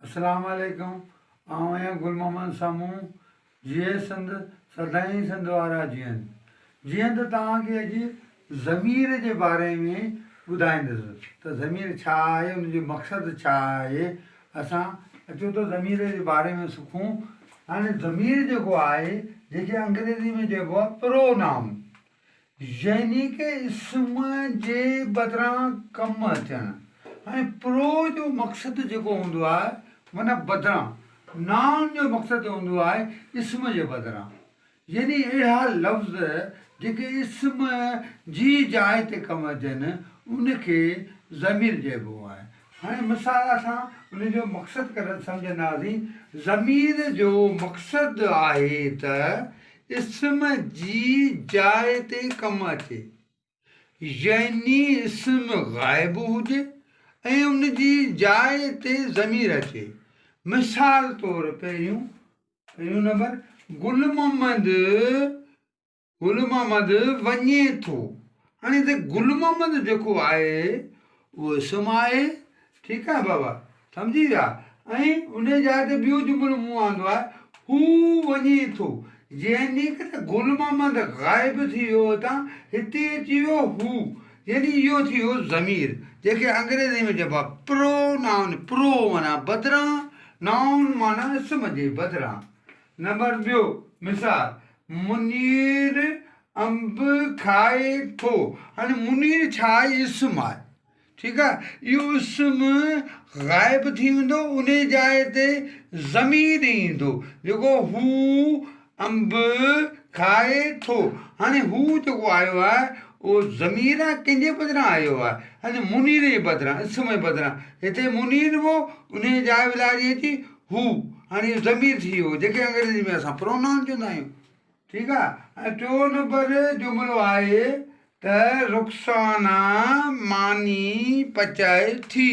اسلام عليڪم آئون آهيان گل محمد سامون جيئي سنڌ سدائين سنڌ وارا جيئن جيئن ته توهان کي اڄ ضمير جي باري ۾ ٻڌائيندس ته ضمير ڇا آهي ان جو مقصد ڇا آهي اسان اچو ته ضمير جي باري ۾ سکون هاڻي ضمير جيڪو آهي جيڪي انگريزي ۾ چئبو آهي پرو نائون يعني ڪي اسم جي بدران ڪم اچڻ ۽ پرو جو مقصد جيڪو هوندو آهي من بدران نائون جو مقصد هوندو آهي اسم جي بدران يعني اهڙا لفظ جيڪي اسم جي جاء تي ڪم اچن ان کي ضمير چئبو آهي هن مثال اسان ان جو مقصد ڪرڻ سمجهنداسين. ضمير جو مقصد آهي ته اسم جي جاء تي ڪم اچي. يعني اسم غائب هجي ۽ ان جي جاء تي ضمير اچي. مثال طور پهريون نمبر گل محمد گل محمد وڃي ٿو هاڻي ته گل محمد جيڪو آهي اهو اسم آهي ٺيڪ آهي بابا سمجهي ويا ۽ ان جي جاء تي ٻيو جملو مون آندو آهي هو وڃي ٿو يعني ته گل محمد غائب ٿي ويو هتان هتي اچي ويو هو يعني اهو ٿي ويو ضمير جنهن کي انگريزي ۾ چئبو آهي پرو نائون پرو معنيٰ بدران نائون معنيٰ اسم جي بدران نمبر ٻيو مثال منير انب کائي ٿو هاڻي منير ڇا آهي اسم آهي ٺيڪ آهي اهو اسم غائب ٿي ويندو ان جي جاء تي ضمير ايندو جيڪو هو انب کائي ٿو هاڻي هو جيڪو آيو آهي اهو ضمير آهي ڪنهن جي بدران آيو آهي منير جي بدران اسم جي بدران هتي منير هو ان جي جاء ولاري اچي هو هاڻي اهو ضمير ٿي ويو جنهن کي انگريزي ۾ اسان Pronoun چوندا آهيون ٺيڪ آ ۽ ٽيون نمبر جملو آهي ته رخسانا ماني پچائي ٿي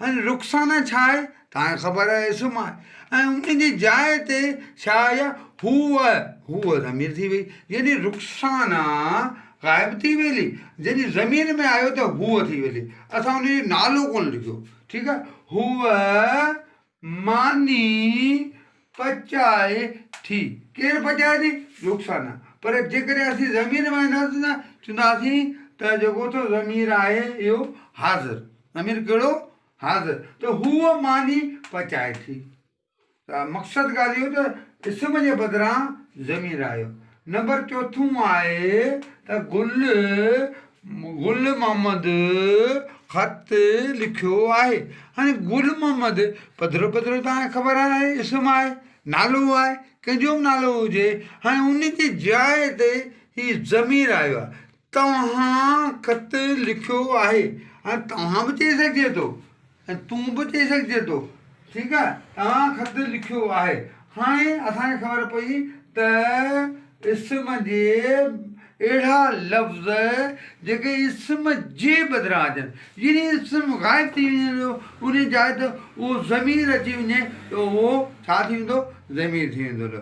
هاڻي رخسانا ڇا آهي توهان کي خبر آهي اسم آهي ۽ ان جي جاء تي ڇا آئي آ هوء هوء ضمير ٿي وئي يعني رخسانا غائب ٿي ويلي جڏهن ضمير ۾ آيو ته هوء ٿي ويلي اسان ان جو نالو ڪونه لکيو ٺيڪ آ هوء ماني پچائي ٿي. ڪير پچائي ٿي؟ رخسانه. پر جيڪڏهن اسين ضمير مڃينداسين ته چونداسين ته جيڪو اٿس ضمير آهي اهو حاضر. ضمير ڪهڙو؟ حاضر. ته هوء ماني پچائي ٿي. ته مقصد ڳالهه اهو ته اسم جي بدران ضمير آيو. نمبر چوٿون آهي ته گل گل محمد خط لکيو آهي هاڻي گل محمد پڌرو پڌرو تان خبر آهي اسم آهي نالو آهي ڪنهنجو بي نالو هجي هاڻي ان جي جاء تي هي ضمير آيو آهي توهان خط لکيو آهي هاڻي توهان به چئي سگهجي ٿو ۽ تون به چئي سگهجي ٿو ٺيڪ آهي توهان خط لکيو آهي هاڻي اسان کي خبر پئي ته اسم جي اهڙا لفظ جيڪي اسم جي بدران اچن يعني اسم غائب ٿي وڃي ٿو ان جي جاء تي اهو ضمير اچي وڃي ته اهو ڇا ٿي ويندو ضمير ٿي ويندو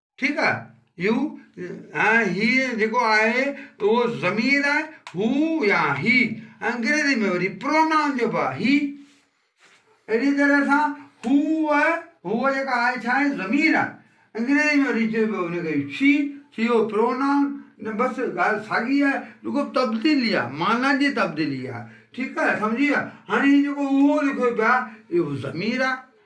ٺيڪ آ يو ۽ هي جيڪو آهي اهو ضمير آهي هو يا هي انگريزي ۾ وري پرونائون چئبو آهي هي اهڙي طرح سان هو هو جيڪا آهي ڇا آهي ضمير آهي انگريزي ۾ وري چئبو ان کي شي شي اهو پرونائون نه بس ڳالهه ساڳي آهي رڳو تبديلي آهي معنيٰ جي تبديلي آهي ٺيڪ آهي سمجهي ويا هاڻي هي جيڪو اهو لکيو پيو آهي اهو ضمير آهي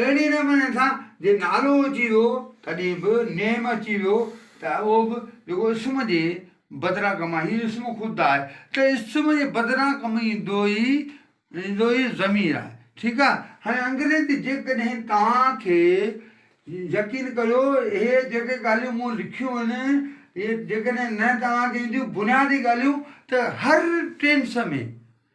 اهڙي نموني سان جي نالو اچي ويو تڏهن به نيم اچي ويو ته اهو به جيڪو اسم جي بدران ڪم آهي هي اسم خود آهي ته اسم جي بدران ڪم ايندو ئي ايندو ئي ضمير آهي ٺيڪ آهي هاڻي انگريزي جيڪڏهن توهان کي يقين ڪريو اهي جيڪي ڳالهيون مون لکيون آهن اهي جيڪڏهن نه توهان کي اينديون بنيادي ڳالهيون ته هر tense ۾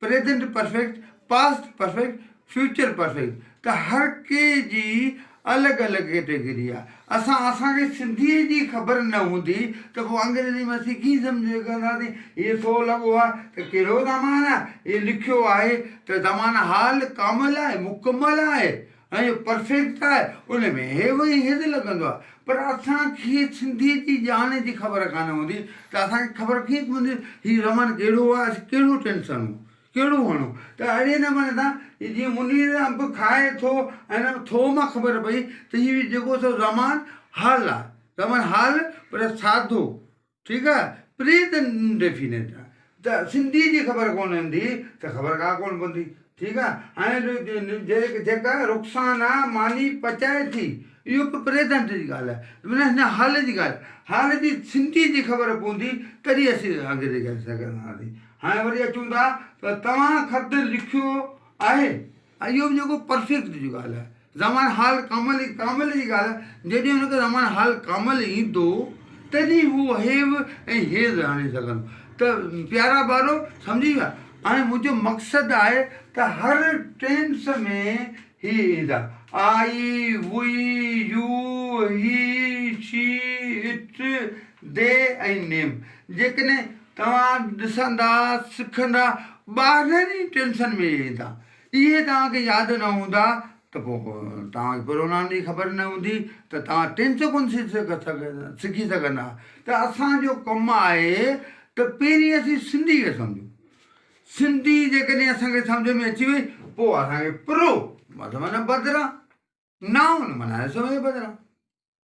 present perfect, past perfect, future perfect ته هر ڪنهن جي الڳ الڳ ڪيٽيگري آهي. اسان اسان کي سنڌيء جي خبر نه هوندي ته پوء انگريزي ۾ اسين ڪيئن سمجهي سگهنداسين هيء سو لڳو آهي ته ڪهڙو زمان آهي، هيء لکيو آهي ته زمان حال ڪامل آهي، مڪمل آهي، ۽ جو پرفيڪٽ آهي ان ۾ هي وهي هيد لڳندو آهي پر اسان کي سنڌي جي ڄاڻ جي خبر ڪانه هوندي ته اسان کي خبر ڪيئن پوندي هي رمن ڪهڙو آهي اسين ڪهڙو ٽينس هڻون ڪهڙو هڻون ته اهڙي نموني سان هي جيئن منير انب کائي ٿو ۽ ان ٿو مان خبر پئي ته هي جيڪو سو رمان حل آهي رمن حل پر سادو ٺيڪ آ پريت ڊيفينيٽ آ ته سنڌي جي خبر ڪون ھوندي ته خبر ڪا ڪون پوندي ٺيڪ آ ھاڻي جيڪا رخسانا ماني پچائي ٿي اھو به پريزنٽ جي ڳالھ آھي معنيٰ ھن حال جي ڳالھ آھي حال جي سنڌي جي خبر پوندي تڏھن اسين اڳتي ڪري سگھندا سين ھاڻي وري اچون ٿا ته توھان خط لکيو آھي اهو به جيڪو پرفيڪٽ جي ڳالهه آهي. زمان حال ڪامل ئي ڪامل جي ڳالهه آهي. جڏهن هن کي زمان حال ڪامل ايندو تڏهن هو هيو ۽ هيز آڻي سگهندو. ته پيارا ٻارو سمجهي ويا؟ هاڻي منهنجو مقصد آهي ته هر ٽينس ۾ هي ايندا، I, we, you, he, she, it, they ۽ name. جيڪڏهن توهان ڏسندا سکندا ٻارهن ئي ٽينشن ۾ ويهندا اهي توهان کي ياد نه هوندا ته پوء توهان کي پروگرام جي خبر نه هوندي ته توهان ٽينشن ڪونه سکي سگهندا ته اسان جو ڪم آهي ته پهرين اسين سنڌي کي سمجهون سنڌي جيڪڏهن اسان کي سمجهه ۾ اچي وئي پوء اسان کي پرو معنيٰ بدران نائون معنيٰ اسم جي بدران.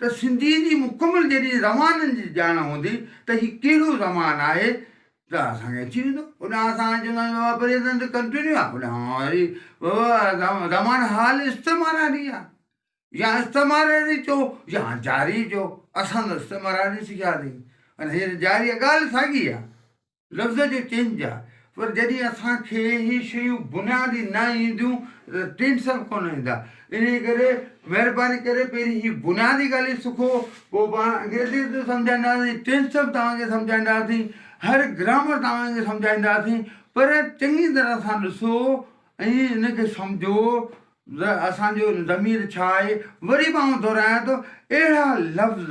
ته سنڌيء جي مڪمل جيڏي زمانن جي ڄاڻ هوندي ته هي ڪهڙو زمان آهي ته اسان کي اچي ويندو. هوڏانهن اسان هاڻي چونداسين بابا پريزنٽ ڪنٽينيو آهي هوڏانهن وري بابا زمان حال استعماراري آهي يا استعماراري چئو يا جاري چئو اسان ته استعماراري سکياسين ۽ هينئر جاري آهي ڳالهه ساڳي آهي. لفظ جو چينج آ پر جڏهن اسان کي هي شيون بنيادي نه اينديون ته ٽينس به ڪونه ايندا انهي ڪري مهرباني ڪري پهرين هي بنيادي ڳالهيون سکو پوء پاڻ انگريزي به سمجهائينداسين ٽينس به توهان کي سمجهائينداسين هر گرامر توهان کي سمجهائينداسين پر چڱي طرح سان ڏسو ۽ ان کي سمجهو ته اسان جو ضمير ڇا آهي وري به آئون دهرايان ٿو اهڙا لفظ